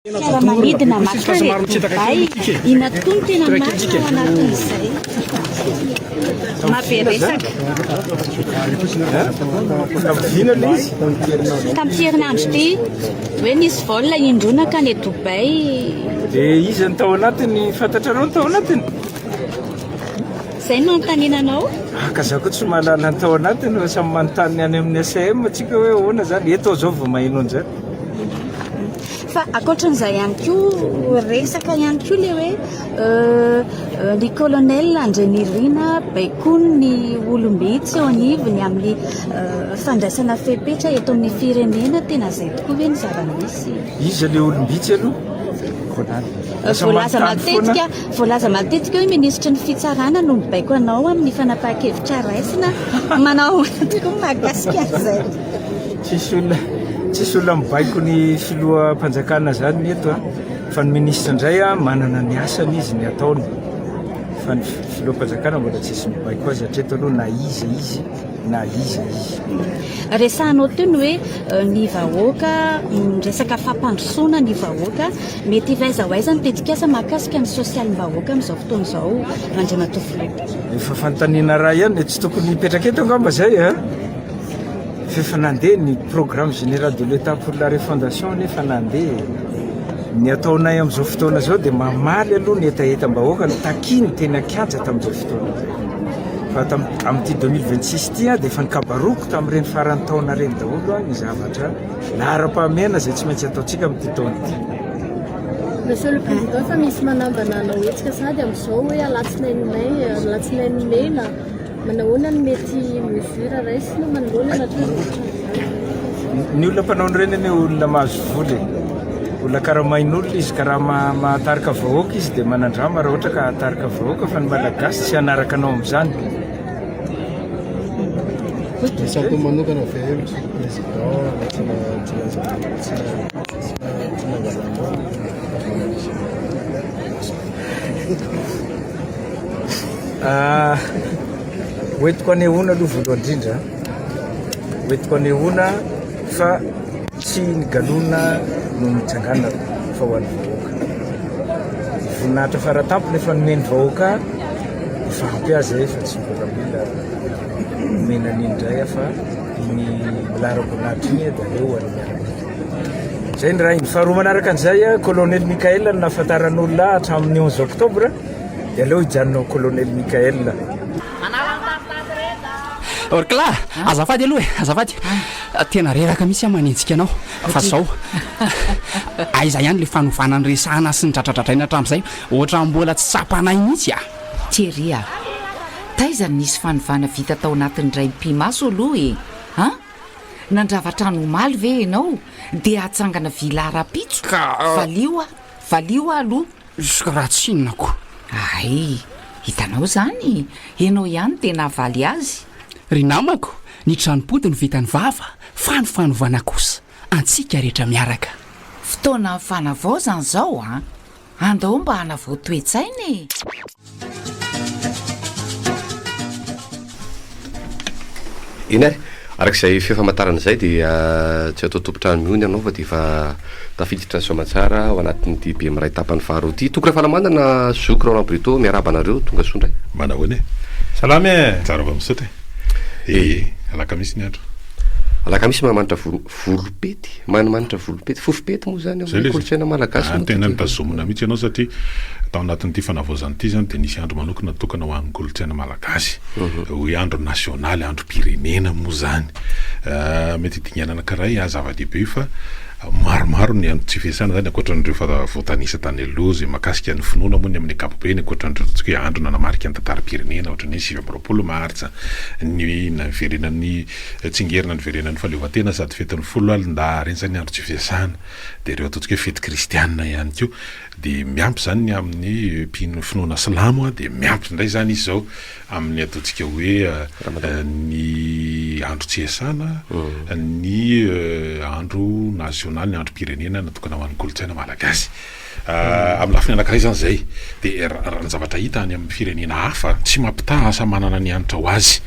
Fiaramanidina maka re Dubai, inona tokoa no tena marina ao anatin'izay? Mabe resaka. Tamin'ny herinandro ity, hoe nisy vol indroa nankany Dubai. Dia iza no tao anatiny? Fantatrareo ny tao anatiny? Izay no anontaniana anao? Aka za koa tsy mahalala ny tao anatiny fa samy manontany any amin'ny ACM antsika hoe ahoana izany. Eto aho izao vao maheno an'izany. Fa ankoatran'izay ihany koa resaka ihany koa le hoe ny euh, colonel Andrenirina baikony ny olombe tsy eo anivony amin'ny euh, fandraisana fepetra eto amin'ny firenena tena izay tokoa ve ny zava-misy iza le olombitsy aloha euh, voalaza matetika voalaza matetika hoe minisitry ny fitsarana no mibaiko anao amin'ny fanapaha-kevitra raisina manao tokoa mahakasika an'izay Tsisy olona tsisy olona mibaiko ny filoham-panjakana zany ny eto an! fa ny ministra indray an manana ny asany izy ny ataony fa ny filoham-panjakana mbola tsisy mibaiko azy hatreto aloha na iza izy na iza izy. Resahanao teo ny hoe euh, ny vahoaka mm, resaka fampandrosoana ny vahoaka mety hiva aiza ho aiza ny tetikasa mahakasika ny sosialim-bahoaka amin'izao fotoana izao Andriamatoa Filoha. Efa fanontaniana raha ihany, tsy tokony hipetraka eto angamba zay a! Eh? F'efa nandeha ny programme général de l'Etat pour la refondation anie efa nandeha e! Ny ataonay amin'izao fotoana izao dia mamaly aloha ny hetahetam-bahoaka notakiany teny an-kianja tamin'izao fotoana izao. Fa amin'ity 2026 ity dia efa nikabaroko tamin'ireny faran'ny taona ireny daholo ny zavatra laharam-pahamehana izay tsy maintsy ataontsika amin'ity taona ity. Monsieur le Président, efa misy manambana hanao hetsika sahady amin'izao hoe alatsinainy may, alatsinainy mena, Manahoana no mety mesure raisina manoloana ny atolotra izany? Ny olona mpanao an'ireny anie olona mahazo vola e. Olona karamain'olona izy ka raha ma- mahatarika vahoaka izy dia manandrama raha ohatra ka hatarika vahoaka fa ny Malagasy tsy hanaraka anao amin'izany. Ny sampy manokana ve ny président na tsy na- tsy na- tsy na- tsy na- tsy nangalanao ny journaliste? Hoentiko anehoana aloha voalohany indrindra, hoentiko anehoana fa tsy ny galona no nitsanganana fa ho an'ny vahoaka. Voninahitra fara tampony efa nomen'ny vahoaka efa ampy azy e, fa tsy mbola mila omena an'iny indray aho fa iny laharam-boninahitra iny dia aleo ho an'ny miaramila. Izay ny iray. Ny faharoa manaraka an'izay, Kolonely Mickaël no nahafantaran'olona hatramin'ny 11 octobre, dia aleo hijanona ho Kolonely Mickaël. Orkla, azafady aloha e, azafady. Tena reraka mihitsy aho manenjika anao fa izao. Aiza ihany ilay fanovana ny resahana sy ny dradradradraina hatramin'izay? Ohatran'ny mbola tsy tsapanay mihitsy a! Thierry a! Taiza no nisy fanovana vita tao anatin'ny iray mipi-maso aloha e! An? Nandrava trano omaly ve ianao dia hatsangana villa rahampitso? Ka, ah. Valio aho, valio aho aloha. Izy ka raha tsinona ko. Ay, hitanao izany, ianao ihany dia nahavaly azy. Ry namako, ny tranom-pody no vitan'ny vava, fa ny fanovana kosa, antsika rehetra miaraka. Fotoana ny fanavaozana izao an! Andao mba hanavao toe-tsaina e! Eny ary, araka izay feo famantarana izay dia tsy atao tompon-trano mihony ianao fa dia efa tafiditra ny soamantsara ao anatin'ity be miray tapany faharoa ity. Toky Rafalamanana, zoky Roland Brito, miarahaba anareo, tonga soa indray. Manao ahoana e? Salama e! Tsara vao misaotra e! Ee, alakamisy ny andro. Alakamisy mahamanitra volo. Volopety, manimanitra volopety, fofopety moa izany ao amin'ny kolontsaina malagasy moa ity. Zay ilay izy, ary tena notazomina mihitsy ianao satria tao anatin'ity fanavaozana ity izany dia nisy andro manokana natokana ho an'ny kolontsaina malagasy, hoe andro nasionaly, androm-pirenena moa izany. Mety hidingana anankiray aho, zava-dehibe io fa maromaro ny antony tsy fiasana izany, ankoatra an'ireo efa voatanisa tany aloha, izay mahakasika ny finoana moa ny amin'ny ankapobeny, ankoatra an'ireo ataontsika hoe andro nanamarika ny tantaram-pirenena, ohatra ny hoe sivy amby roapolo martsa, ny niverenan'ny Tsingerina niverenan'ny fahaleovantena sady fetin'ny folo alina na harintsa ny andro tsy fiasana. Dia ireo ataontsika hoe fety kristiana ihany koa. Dia miampy izany ny amin'ny mpino finoana silamo, dia miampy indray izany izy izao amin'ny ataontsika hoe ny andro tsy iasana, ny andro nasionaly, ny androm-pirenena natokana ho an'ny kolontsaina malagasy. Amin'ny lafiny anankiray izany izay dia raha ny zavatra hita any amin'ny firenena hafa, tsy mampitaha asa manana ny hanitra ho azy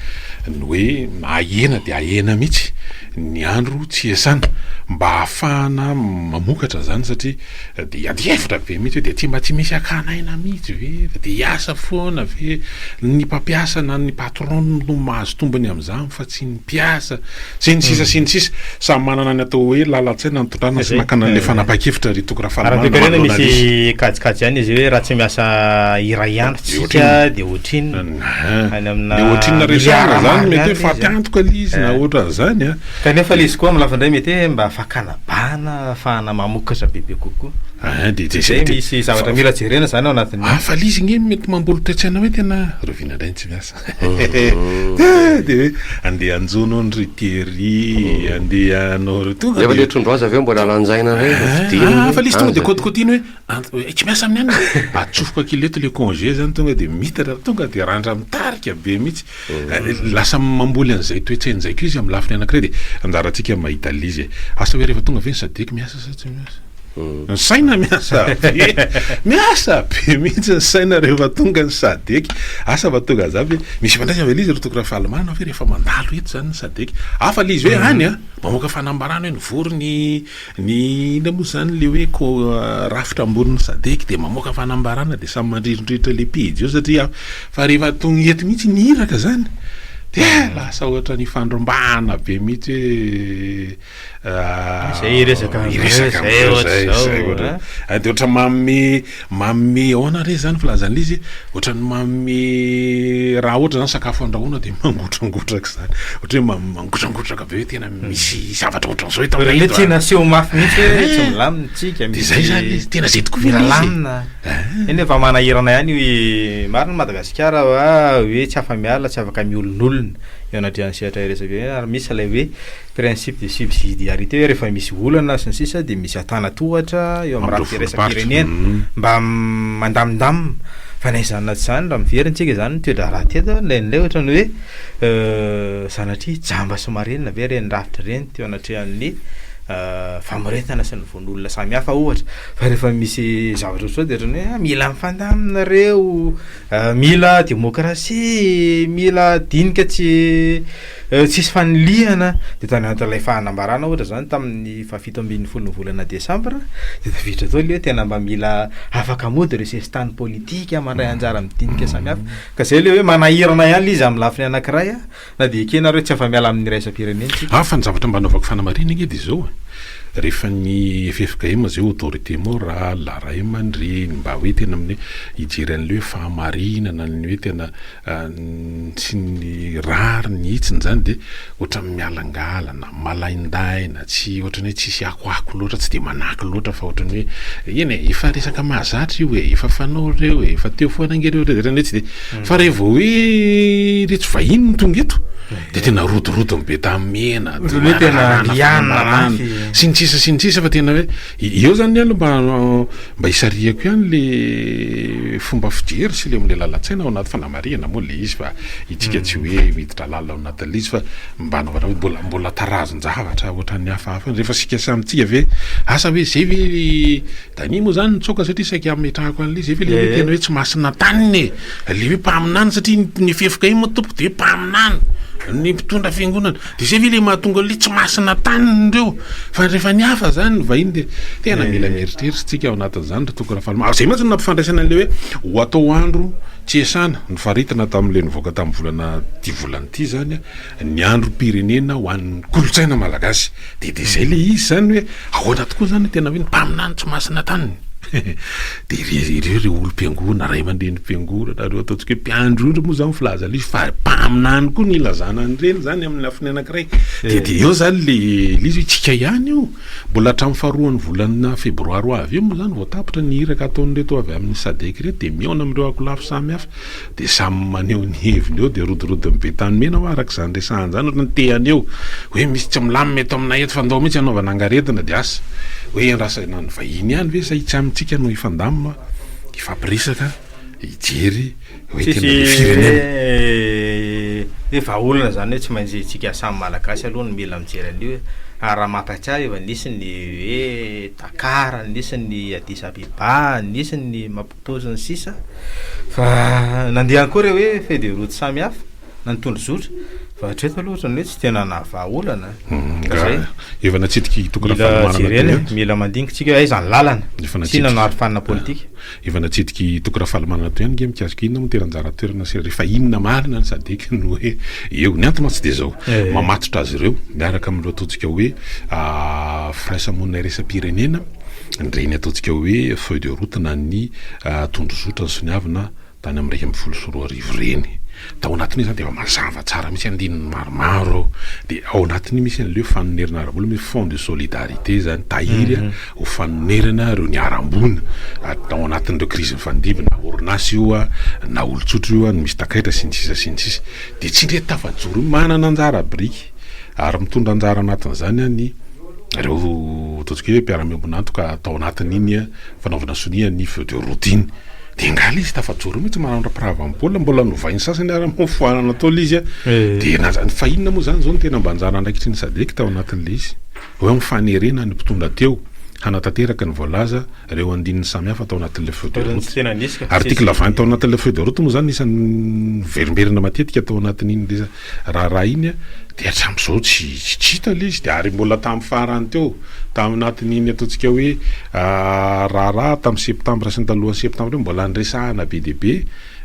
ny hoe ahena dia ahena mihitsy ny andro tsy iasana mba hahafahana mamokatra izany satria dia ady hevitra be mihitsy hoe dia aty mba tsy misy akana aina mihitsy ve fa dia hiasa foana ve ny mpampiasa na ny patron no mahazo tombony amin'izany fa tsy ny mpiasa, sy ny sisa sy ny sisa. Samy manana ny atao hoe lalan-tsaina nitondrana sy nakana an'ilay fanapahan-kevitra ry Toky Rafalimanana maha Lolaly. Kajikajy ihany izy hoe raha tsy miasa iray ihany tsika dia ohatrinona? Any amina milliard marina any ilay izy an! Mety hoe faty antoka ilay izy na ohatran'izany an! Kanefa ilay izy koa amin'ny lafiny iray mety hoe mba fakana bana ahafahana mamokatra bebe kokoa. Ahh dia izay dia. Misy zavatra mila jerena izany ao anatin'io. Hafa ilay izy ange mety mamboly toe-tsaina hoe tena rahoviana indray ny tsy miasa. dia hoe andeha hanjono hono ry Thierry, andeha hanao ry tonga dia. Efa ilay trondro aza avy eo mbola lanjaina indray vao ah, fidiny. Ah, fa ilay izy tonga dia kotikotiany hoe tsy miasa amin'ny anona. Atsofoka kileto ilay congé izany tonga dia mitatra tonga dia randra mitarika be mihitsy. Mm. Eh, lasa mamboly an'izay toetsaina izay koa izy amin'ny lafiny anankiray dia anjarantsika mahita l'izy. Asa hoe rehefa tonga ve ny sadec miasa sa tsy miasa? Ny saina miasa be. Miasa be mihitsy ny saina rehefa tonga ny sadec. Asa fa tonga za ve? Misy ifandraisany ve le izy ry Toky Rafalimanana ve rehefa mandalo eto zany ny sadec? Hafa le izy hoe any an! Mamoaka fanambarana hoe nivory ny ny inona moa zany le hoe ko rafitra ambonin'ny sadec de mamoaka fanambarana de samy mandrirodrirotra le pejy eo satria fa rehefa tonga eto mihitsy ny iraka zany dia lasa ohatra ny ifandrombahana be mihitsy hoe. Ah, zay iresaka an'zay, iresaka zay an'zay, ohatr'izao, zay, zay, ah. ohatr'izao. Ah, dia ohatran'ny manome manome ahoana re izany filazan'ilay izy hoe ohatran'ny manome raha ohatra izany sakafo andrahoina dia mangotrangotraka izany, ohatra hoe man- mangotrangotraka be hoe tena misy zavatra ohatran'izao eto Hoe aminay eto, tiana ah. aseho mafy mihitsy hoe Eh, tsy milamina isika, dia zay izany ilay izy, tena zay tokoa ve mila ilay izy e? lamina. Ah. Eny efa manahirana ihany hoe marina i Madagasikara va hoe tsy afa-miala, tsy afaka miolin'olona eo anatrehan'ny sehatra iresaka eo, ary misy ilay hoe. principe de subsidiarité hoe rehefa misy olana sy ny sisa dia misy antanatohatra eo amin'ny rafitra iraisam-pirenena mba mandamindamina fa na izany na tsy izany raha miverina isika izany ny toe-draharaha teto an, ilay indray ohatran'ny hoe sanatria jamba sy marenina ve ireny rafitra ireny teo anatrehan'ny famoretana sy ny vono olona samy hafa ohatra fa rehefa misy zavatra ohatr'izao dia ohatran'ny hoe mila mifandamina ireo mila demokrasia mila dinika tsy Tsisy fanilihana dia tany anatin'ilay fanambarana ohatra izany tamin'ny fahafito ambin'ny folo ny volana desambra dia tafiditra tao ilay hoe tena mba mila afaka mody ireo sesitany politika mandray anjara amin'ny dinika samihafa ka izay ilay hoe manahirana ihany ilay izy amin'ny lafiny anankiray na dia ekena ary hoe tsy afa-miala amin'ny iraisam-pirenena isika. Hafa ny zavatra mba anaovako fanamarihana ange dia izao e, rehefa ny ffkm izay autorité morale, ray aman-dreny mba hoe tena amin'ny hoe hijery an'ilay hoe fahamarinana ny hoe tena Tsy ny rariny hitsiny zany de ohatran'ny mialangalana, malaindaina, tsy ohatran'ny hoe tsisy akoako loatra, tsy de manaky loatra fa ohatran'ny hoe eny e, efa resaka mahazatra io e, efa fanao reo e, efa teo foana nge reo de ohatran'ny hoe tsy de, fa re vao hoe iretsy vahiny no tonga eto de tena rodorodony be tamena, sy ny sisa sy ny sisa fa tena hoe. Eo zany ny ahy mba mba hisarihako ihany le fomba fijery sy le omle lalan-tsaina ao anaty fanamarihana moa le izy fa itsika tsy hoe miditra lalina ao anatin'le izy fa mba anaovana hoe mbola mbola tarazin-javatra ohatran'ny hafahafa rehefa isika samy tsika ve asa hoe zay ve ry Danie moa zany nitsoaka satria saika hametrahako an'le zay ve le hoe tena hoe tsy masin'Antanina e! le hoe mpaminany satria ny fefoka iny moa tompoko de hoe mpaminany ny mpitondra fiangonana. De zay ve le mahatonga anle tsy masina taniny ireo fa rehefa ny hafa zany ny vahiny de tena mila mieritreritra tsika ao anatin'izany ry toky Rafalimanana. Zay mantsy no nampifandraisana anle hoe ho atao andro tsy iasana nofaritina taminle nivoaka tamin'ny volana ty volana ity zany ny androm-pirenena ho an'ny kolontsaina malagasy de de zay le izy zany hoe ahoana tokoa zany tena hoe ny mpaminany tsy masina taniny. Dia ireo ireo ry olom-piangonana, ray aman-drenim-piangonana, ireo ataontsika hoe mpiandry ondry moa izany filaza lisy fa mpaminany koa ny ilazana an'ireny izany amin'ny lafiny anankiray. Dia dia eo izany le lisy hoe tsika ihany io. Mbola hatramin'ny faharoan'ny volana febroary ho avy io moa izany vao tapitra ny iraka ataon'ireto avy amin'ny Sadec ireto dia mihaona amin'ireo akolafy samihafa. Dia samy maneho ny heviny eo dia rodorodon'ny be tany mena hoa araka izany resahana izany ohatra ny tehany eo hoe misy tsy milamina eto aminay eto fa ndao mihitsy anaovana angaretina dia asa hoe endrasana ny vahiny ihany ve sa itsy amintsika no hifandamina hifampiresaka hijery hoe tena be firenena hoe vahaolana izany hoe tsy maintsy tsika samy malagasy aloha no mila mijery an'io hoe ary raha mampahatsiahy efa nisy ny hoe Dakar nisy ny Addis Abeba nisy ny Tojo ny sisa fa nandeha akory hoe feuille de route samy hafa na ny tondrozotra fa hatreto aloha ohatran'ny hoe tsy tena nahavaha olana izay efa natsidiky hitokana fanomanana jerena mila mandingintsika hoe aiza ny lalana efa natsina no arofanina politika efa natsidiky hitokana fanomanana toy ihany nge mikasika inona moa teranjara toerana sy rehefa inona marina ny sadeka no hoe eo ny antony mantsy dia izao eh. mamatotra azy ireo miaraka amin'ireo tojika hoe ah, firaisamonina iraisam-pirenena Ireny ataontsika hoe feuille de route na ny tondrozotra nisoniavina tany amin'ny iraika ambin'ny folo sy roa arivo ireny. Tao anatin'io izany dia efa mazava tsara mihitsy andininy maromaro ao. Dia ao anatin'io misy an'ilay hoe fanonerana ara-bola, misy fonds de solidarité izany, tahiry ho fanonerana ireo niharam-boina tao anatin'ireo krizy nifandimby na orinasa io na olon-tsotra io no misy takaitra sy ny sisa sy ny sisa. Dia tsy indray tafajoro io, manana anjara biriky. ary mitondra anjara anatin'izany ny ireo ataontsika hoe mpiara-miombon'antoka atao anatin'iny fanaovana sonia ny feu de route iny de nga le izy tafajoro mihitsy manamra pirava baolina mbola novainy sasany ary amin'ny foanana atao le izy a eh. de nanjany fa inona moa zany zao ny tena mba anjara andraikitry ny sadek tao anatin'le izy hoe amin'ny fanerena ny mpitondra teo hanatanteraka ny voalaza ireo andininy samihafa tao anatin'le feu de route article 20 tao anatin'le feu de route moa zany isan'ny verimberina matetika tao anatin'iny Raha arahiny dia hatramin'izao tsy hita ilay izy, dia ary mbola tamin'ny farany teo, tao anatin'iny ataontsika hoe raharaha tamin'ny septambra sy ny talohan'ny septambra iny, mbola niresahana be dia be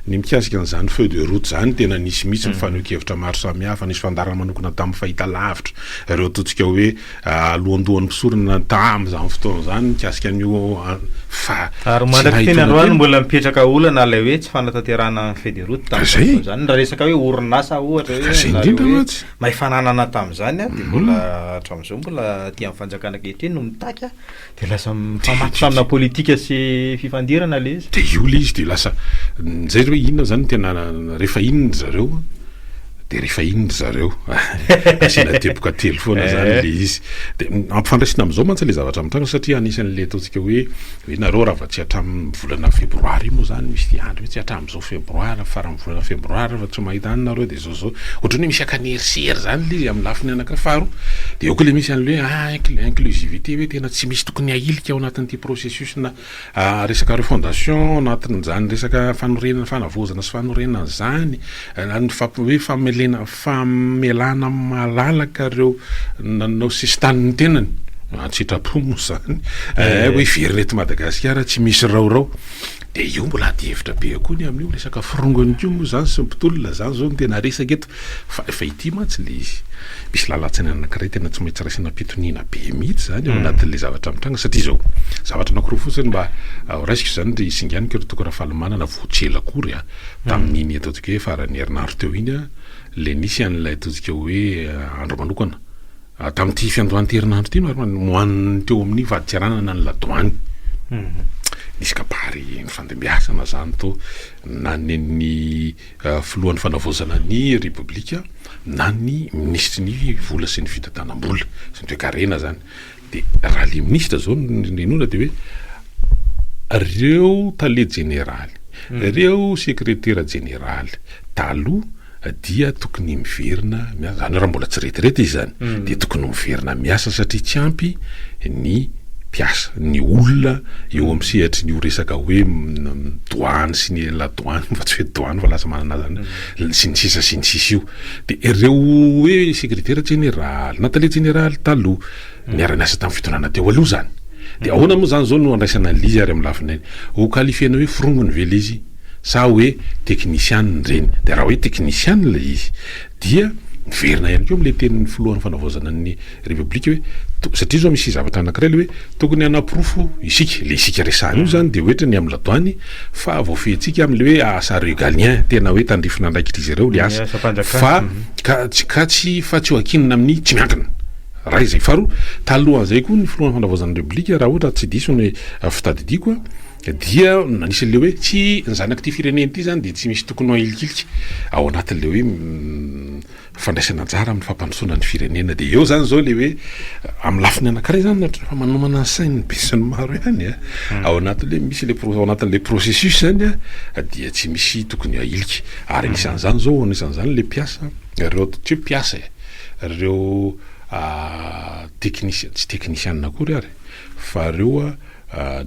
ny mikasika an'izany feu de route izany, tena nisy mihitsy ny fanehoan-kevitra maro samihafa, nisy fandaharana manokana tamin'ny fahitalavitra, ireo ataontsika hoe. Alohandohan'ny mpisorona tamin'izany fotoana izany mikasika an'io fa Ary mandrak'y teny androany mbola mipetraka olana ilay hoe tsy fanatanterahana ny feuille de route tamin'izany fotoana izany. Raha resaka hoe orinasa ohatra hoe nareo hoe may fananana tamin'izany dia mbola hatramin'izao mbola aty amin'ny fanjakana ankehitriny no mitaky Dia lasa mifamatotranona politika sy fifandirana ilay izy. Dia io ilay izy dia lasa nizay hoe inona izany no tena rehefa iny ry zareo dia rehefa iny ry zareo. Asiana teboka telo foana izany ilay eh. izy. Dia ampifandraisina amin'izao mantsy ilay zavatra mitranga satria anisan'ilay ataontsika hoe hoe nareo raha vao tsy hatramin'ny volana febroary io moa izany misy fiandry mihitsy hatramin'izao febroary faran'ny volana febroary raha vao tsy mahita anareo dia Jojo, ohatran'ny hoe misy akany herisery zany le izy amin'ny lafiny anankiray. Faharoa, de eo koa le misy an'le hoe inclusivité hoe tena tsy misy tokony ahilika ao anatin'ity processus-na resaka refondation, anatin'izany resaka fanorenana, fanavaozana sy fanorenana izany, ny fampi- hoe famelena- famelana malalaka ireo nanao sisin-tanin'ny tenany, an-tsitrapo moa izany, hoe hiverina eto Madagasikara tsy misy raorao. Dia io mbola ady hevitra be eo koa ny amin'io resaka forongony koa moa izany sy ny mpitolona izany izao no tena resaka eto fa efa ity mantsy ilay izy misy lalan-tsaina anankiray tena tsy maintsy raisina am-pitoniana be mihitsy izany ao anatin'ilay zavatra mitranga satria izao zavatra anankiroa fotsiny mba ho raisiko izany ry singaniko ry toko Rafalimanana vao tsy ela akory a tamin'iny ataontsika hoe faran'ny herinandro teo iny a ilay nisy an'ilay ataontsika hoe andro manokana Tamin'ity fiandohan-terinandro ity no ho an'ny teo amin'ny fadintseranana ny ladoany. Nisy kabary nifandimbiasana izany to na nen'ny filohan'ny fanavaozana ny repoblika na ny minisitry ny vola sy ny fitantanam-bola sy ny toekarena izany. Dia raha ilay minisitra izao no ninoana dia hoe ireo tale jeneraly, ireo sekretera jeneraly taloha, dia tokony miverina miasa, zany hoe raha mbola tsy retraite izy zany dia tokony miverina miasa satria tsy ampy ny mpiasa, ny olona eo amin'ny sehatrin'io resaka hoe douane sy ny la douane fa tsy hoe douane fa lasa manana zany hoe sy ny sisa sy ny sisa io dia ireo hoe secretaire jeneraly na tale jeneraly taloha niara niasa tamin'ny fitondrana teo aloha zany dia ahoana moa zany zao no handraisana an'ilay izy ary amin'ny lafiny ho qualifiena hoe forongony ve ilay izy? sa hoe teknisianina ireny, dia raha hoe teknisianina ilay izy dia miverina ihany koa amin'ilay tenin'ny filohan'ny fanavaozana ny repoblika hoe to, satria izao misy zavatra anankiray ilay hoe tokony hanaporofo isika, ilay isika resahana io izany dia ohatra ny amin'ny ladoany fa voafehintsika amin'ilay hoe asa regalien, tena hoe tandrifin'andraikitr'izy ireo ilay asa, fa ka, ka tsy, fa tsy ho ankinina amin'ny tsy miankina. Iray izay. Faharoa, talohan'izay koa ny filohan'ny fanavaozana ny repoblika, raha ohatra tsy diso ny fitadidiako, Dia anisan'ilay hoe tsy ny zanak'ity firenena ity izany dia tsy misy tokony ho ahilikilika ao anatin'ilay hoe fandraisana anjara amin'ny fampandrosoana ny firenena. Dia eo izany izao ilay hoe amin'ny lafiny anankiray izany ohatra efa manomana ny sain'ny besinimaro ihany ao anatin'ilay misy ilay pro- ao anatin'ilay processus izany dia tsy misy tokony ahilika. Ary anisan'izany izao anisan'izany ilay mpiasa ireo tsy hoe mpiasa e! ireo teknisiana, tsy teknisiana akory ary. Faharoa,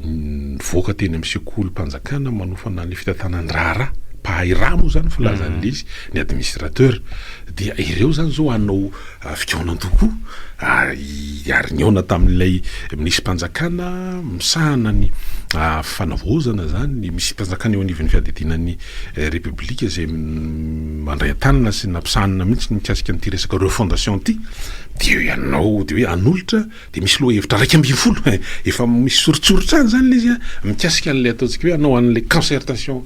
nivoaka teny amin'ny sekolim-panjakana manofana ny fitantanan-draharaha, mpahay rà moa izany filazan'ilay izy, ny administrateur, dia ireo izany izao hanao fikaonandoha koa ary nihaona tamin'ilay minisiam-panjakana misahana ny fanavaozana izany, ny minisiam-panjakana eo anivon'ny fiadidiana ny Repoblika izay mandray an-tanana sy nampisahanina mihitsy ny mikasika an'ity resaka refondation ity, dia ianao dia hoe hanolotra. Dia misy lohahevitra iraika ambin'ny folo, efa misy soritsoritra any izany ilay izy an, mikasika an'ilay ataontsika hoe hanao an'ilay concertation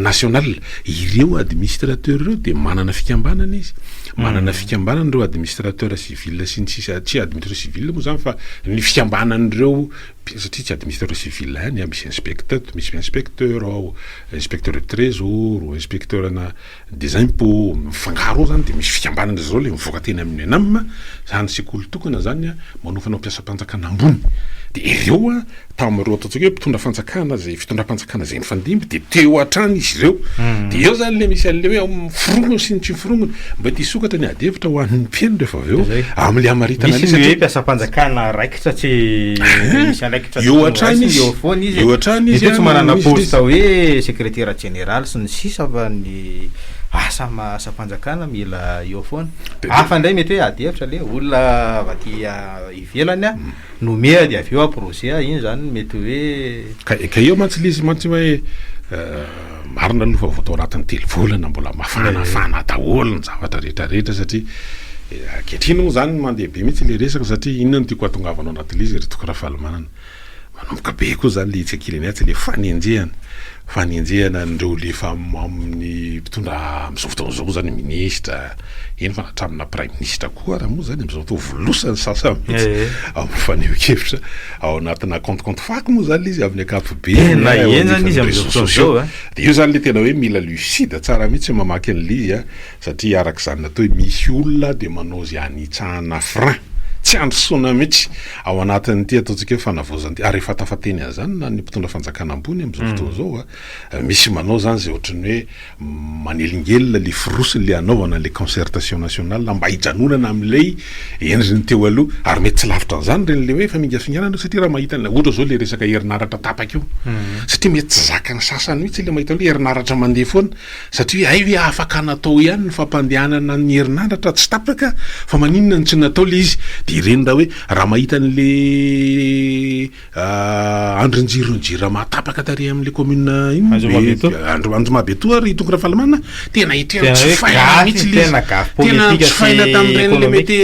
nationale. Ireo administrateurs ireo dia manana fikambanana izy, manana fikambanana ireo administrateurs civils sy ny sisa, tsy administrateurs civils moa izany fa ny fikambanan'ireo, satria tsy administrateurs civils ihany an, misy inspecteurs, misy inspecteurs ao, inspecteurs du trésor, inspecteurs-na. Dia izay mpo mifangaro ao zany dia misy fikambanana izao ilay mivoaka teny amin'ny Enam, zany sekoly tokana zany manao fanaom-piasam-panjakana ambony. Dia ireo tamin'ireo ataontsika hoe mpitondra fanjakana izay fitondram-panjakana izay nifandimby dia teo hatrany izy ireo. Dia eo zany ilay misy an'ilay hoe ao amin'ny forongony sy ny tsy forongony. Mety hisokatra ny adihevitra ho an'ny mpino rehefa avy eo amin'ilay hamaritana an'ilay satria. Sa tsy misy andraikitra Eo tokony hatrany horaisiny izy. eo foana izy e? Eo hatrany izy Mety hoe tsy an, manana misy poste diso. hoe sekretera jeneraly sy ny sisa fa ny asa ma- asam-panjakana mila eo foana. Bebe. Hafa indray mety hoe ady hevitra le olona avy aty a- ivelany a, nomea dia avy eo aporozea, iny zany mety hoe Ka ka eo mantsy le izy mantsy hoe eh, Marina aloha fa vao tao anatin'ny telo volana mbola mafanafana daholo ny zavatra rehetra rehetra satria ankehitriny moa izany mandeha be mihitsy ilay resaka satria inona no tiako hahatongavanao anaty ilay izy ry Toky Rafalimanana. Manomboka be koa izany ilay hitsikilan'ny atsy ilay fanenjehana, fanenjehana an'ireo ilay efa amin'ny mpitondra amin'izao fotoana izao moa izany minisitra, eny fa na hatraminà praiminisitra koa ary moa izany amin'izao fotoana volosana ny sasany mihitsy amin'ny fanehoan-kevitra. ao anatina compte compte fake moa zany le izy amin'ny ankapobeny Tena a, eo henjana anivon'ny izy amin'izao réseaux fotoana sociaux. izao, a. Dia io zany le tena hoe mila lucide tsara mihitsy mamaky an'ilay izy a, satria araka izany natao hoe misy olona dia manao izay hanitsahana frein, tsy handrosoana mihitsy ao anatin'ity ataontsika hoe fanavaozana ity, ary efa tafateny an'izany na ny mpitondra fanjakana ambony amin'izao fotoana izao a, Misy manao zany zay ohatran'ny hoe manelingelina le fourosiny le anaovana le concertation nationale mba hijanonana amlay endriny teo aloha ary mety tsy lavitra an'zany reny le hoe famingafinganana io satria raha mahita ny ohatra zao le resaka herinaratra tapaka io satria mety tsy zakan'ny sasany mitsy le mahita hoe herinaratra mandeha foana satria hoe hay ve afaka natao ihany ny fampandehanana ny herinaratra tsy tapaka fa maninona no tsy natao le izy de reny raha hoe raha mahita an'le Andrin-jiron'ny Jirama tapaka tary amin'ilay kaominina inona moa ve izy ity? Andro Anjomabetoa ry Toky Rafalimanana a! Tena hitreritra Tena hoe jifaina gasy, mihitsy ilay izy. tena gasy Tena politika sy jifaina tamin'ireny le économique. mety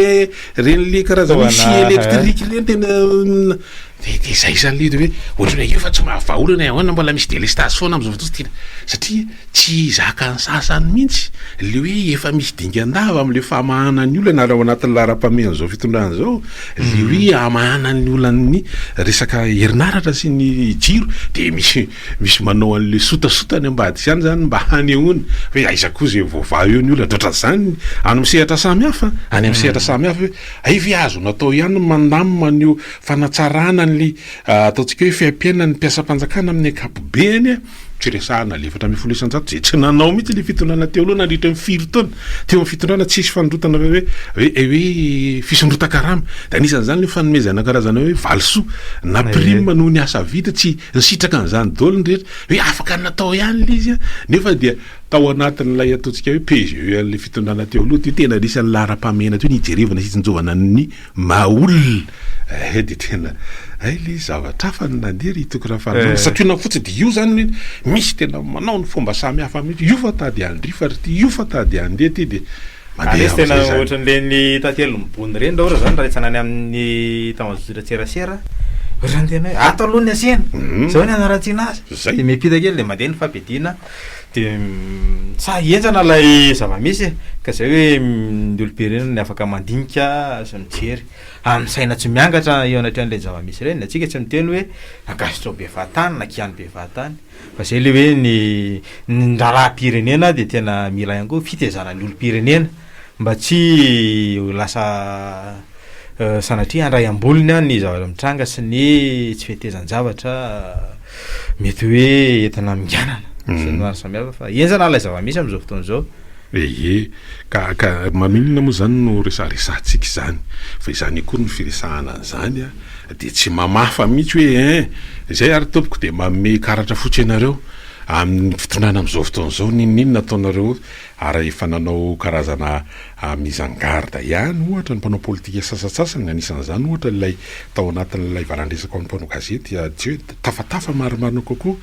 ren'ilay karazana hoe Fitaovana, scie ah. électrique ireny tena n- dia dia izay izany ilay izy hoe ohatran'ny hoe io efa tsy mahavaha olana e, ahoana mbola misy délestage foana amin'izao fotoana satria Tsy zakan'ny sasany mihitsy le hoe efa misy dingan-dava amin'le famahana ny olana raha ao anatin'ny laharam-pahamehan'izao fitondrana izao le hoe hamahana ny olan'ny resaka herinaratra sy ny jiro de misy misy manao an'le sotasota any ambadika izany izany mba hanehoana hoe aiza koa izay voavaha eo ny olana, de otran'izany any amin'ny sehatra samy hafa an! any amin'ny sehatra samy hafa hoe hay ve azo natao ihany ny mandamina an'io fanatsarana an'le ataontsika hoe fiaim-piainan'ny mpiasam-panjakana amin'ny ankapobeny an! Tsy resahana le efatra ambin'ny folo isan-jato izay tsy nanao mihitsy le fitondrana teo aloha nandritra ny firy taona teo amin'ny fitondrana tsisy fanondrotana hoe hoe hoe hoe fisondrotan-karama dia anisan'izany le fanomezana karazana hoe valisoa na prime noho ny asa vita tsy nisitraka an'izany daholo ny rehetra hoe afaka natao ihany le izy nefa dia tao anatin'ilay ataontsika hoe PGE an'le fitondrana teo aloha teo tena anisan'ny laharam-pahamehana teo ny hijerevana sy hitsinjovana ny Mahaolona eh dia tena hay le zavatra hafa no nandeha ry Toky Rafarinona. Santionany fotsiny dia io izany hoe misy tena manao ny fomba samy hafa mihitsy. Io fa tady handrifa ry ity, io fa tady handeha ity dia mandeha amin'izay izany. Ary izy tena ohatran'ireny tantelon'i Bony ireny raha ohatra izany raha hetsana any amin'ny tao an-dRatserasera ohatran'ny tena hoe ato aloha ny asena, izao ny anaratiana azy. Dia miampita kely dia mandeha ny fampidina De sahy henjana ilay zava-misy e! Ka izay hoe ny olobe ireny no afaka mandinika sy mijery. Ary ny saina tsy miangatra eo anatrehan'ireny zava-misy ireny. Ny antsika tsy miteny hoe ankasitraho bevatany na kiano bevatany. Fa izay ilay hoe ny ny raharaha-pirenena dia tena mila ihany koa fitaizana ny olom-pirenena. mba tsy ho lasa sanatria handray am-bolony ny zavatra mitranga sy ny tsy fetezan-javatra mety hoe entina minganana mhm. sy ny maro samihafa fa enjana ilay zava-misy amin'izao fotoana izao ee ka ka maninona moa izany no resaresantsika izany fa izany akory ny firesahana an'izany a ah, dia tsy mamafa mihitsy hoe en eh, izay ary tompoko dia maome karatra fotsy ianareo amin'ny fitondrana amin'izao fotoana izao ninoninona ataonareo Ary efa nanao karazana mise en garde ihany, ohatra, ny mpanao politika sasantsasany, anisan'izany, ohatra, ilay tao anatin'ilay valan-dresaka ho an'ny mpanao gazety, Adieu, tafatafa marimarina kokoa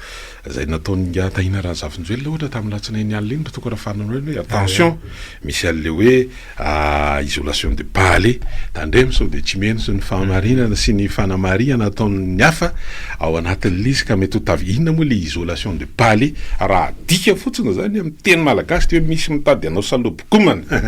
izay nataon'ingahy Tahina Razafinjoelina, ohatra, tamin'ny alatsinainy alina iny, raha toa ka raha fananao iny hoe, attention, misy an'ilay hoe, Ah isolation de Bale, tandremo sao dia tsy miheno sy ny fahamarinana sy ny fanamarihana ataon'ny hafa ao anatin'lisy ka mety ho tavela, inona moa ilay isolation de Bale? Raha adika fotsiny izany amin'ny teny malagasy dia hoe misy mitady hanao salobokomana,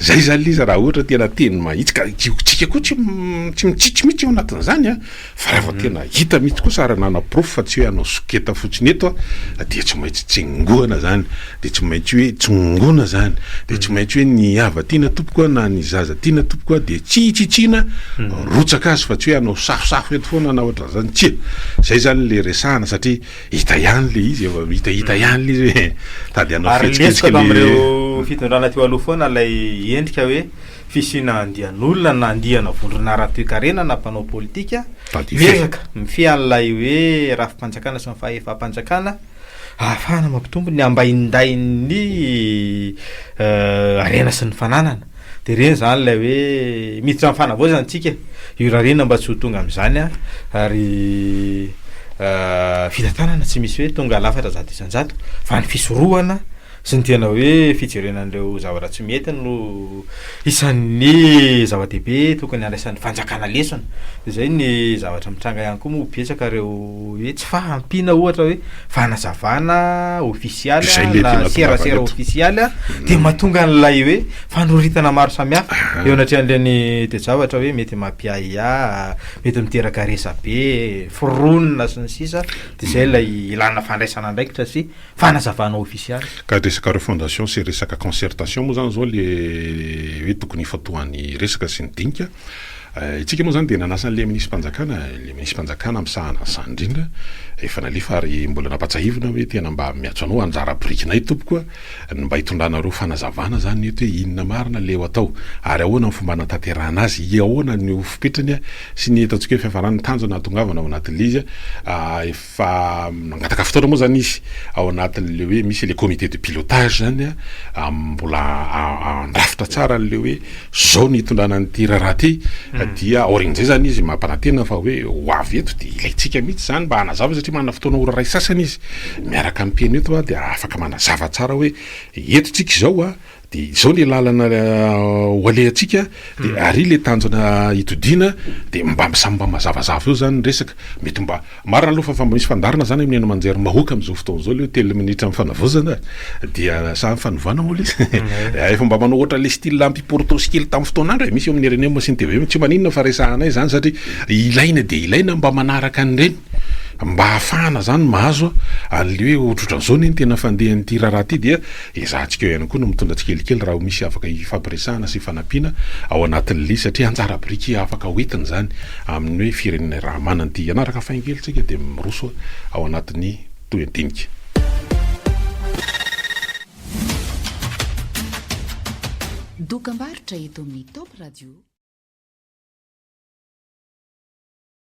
izay izany ilay izy raha ohatra tena teny mahitsy ka tsika koa tsy mitsitsy mihitsy ao anatin'izany an! Fa raha vao tena hita mihitsy kosa ary nanaporofo fa tsy hoe hanao soketa fotsiny eto aho dia tsy maintsy tsengoana izany, dia tsy maintsy hoe tsongoina izany, dia tsy maintsy hoe ny hava tiana tompoko a, na ny zaza tiana tompoko a, dia tsy hitsitsiana rotsaka azy fa tsy hoe hanao safosafo eto foana na ohatran'izany, tsia! Izay izany ilay resahana satria hita ihany ilay izy, efa hitahita ihany ilay izy hoe tady hanao fihetsiketsika ilay. Ary lesoka avy amin'ireo fitondrana teo aloha foana ilay endrika hoe. fisiana andian'olona na andiana vondrona ara-toekarena na mpanao politika miezaka mifehy an'ilay hoe rafi-panjakana sy ny fahefam-panjakana ahafahana mampitombo ny ambaindain'ny harena sy ny fananana dia ireny izany ilay hoe miditra amin'ny fanavaozana antsika io raha ireny mba tsy ho tonga amin'izany a ary fitantanana tsy misy hoe tonga lafatra zato isan-jato fa ny fisorohana Tsy ny tena hoe fijerena an'ireo zavatra tsy mety no isan'ny zava-dehibe tokony handraisan'ny fanjakana lesona. Dia izay ny zavatra mitranga ihany koa moa betsaka ireo hoe tsy fahampiana ohatra hoe fanazavana ofisialy Izay mety na hanatongavana serasera eto. ofisialy dia mahatonga an'ilay hoe fanoritana maro samihafa eo anatrehan'ireny toe-javatra hoe mety mampiahiahy, mety miteraka resabe, foronina sy ny sisa, dia izay ilay ilana fandraisana andraikitra sy fanazavana ofisialy. Ka resaka refondation sy resaka concertation moa zany zao le hoe tokony hifantohan'ny resaka sy ny dinika. Itsika moa zany dia nanasa an'ilay minisipanjakana, ilay minisipanjakana misahana an'izany indrindra, efa nalefa ary mbola nampatsahivina hoe tena mba miantso anao anjara birikinay tompoko a, ny mba hitondranareo fanazavana zany eto hoe inona marina le eo atao ary ahoana ny fomba hanatanterahana azy, iahoana ny ho fipetrany sy ny eto antsika hoe fiafarany, ny tanjona hahatongavana ao anatin'ilay izy a. fa nangataka fotoana moa izany izy ao anatin'ilay hoe misy ilay comité de pilotage izany a, mbola andrafitra tsara an'ilay hoe izao ny hitondrana an'ity raharaha ity, hmm. dia aorian'izay izany izy mampanantena fa hoe ho avy eto dia ilaintsika mihitsy izany mba hanazava satria manana fotoana ora iray sasany izy miaraka amin'ny mpihaino eto a dia afaka manazava tsara hoe eto tsika izao a Dia izao le lalana ho alehantsika dia ary le tanjona hitodiana dia mba samy mba mazavazava eo zany ny resaka. Mety mba marina aloha fa mba misy fandaharana zany amin'ny haino aman-jery mahoaka amin'izao fotoana izao le hoe telo minitra ny fanavaozana e. Dia sa fanovana moa le izy? Efa mba manao ohatra le style ampy portos kely tamin'ny fotoana andro e. Misy eo amin'ny rnm sy ny tvm. Tsy maninona fa resahanay izany satria ilaina dia ilaina mba manaraka an'ireny mba ahafahana zany mahazo an'le hoe ohatrohatran'izao anie ny tena fandehan'ity raharaha ity dia Ezahantsika eo ihany koa ny mitondra tsikelikely raha misy afaka hifampiresahana sy hifanampiana ao anatin'ny lia satria anjara biriky afaka hoentina izany amin'ny hoe firenena iray raha manana ity hanaraka faingely isika dia miroso ao anatin'ny toe-dinika. Dokam-barotra eto amin'ny Top Radio.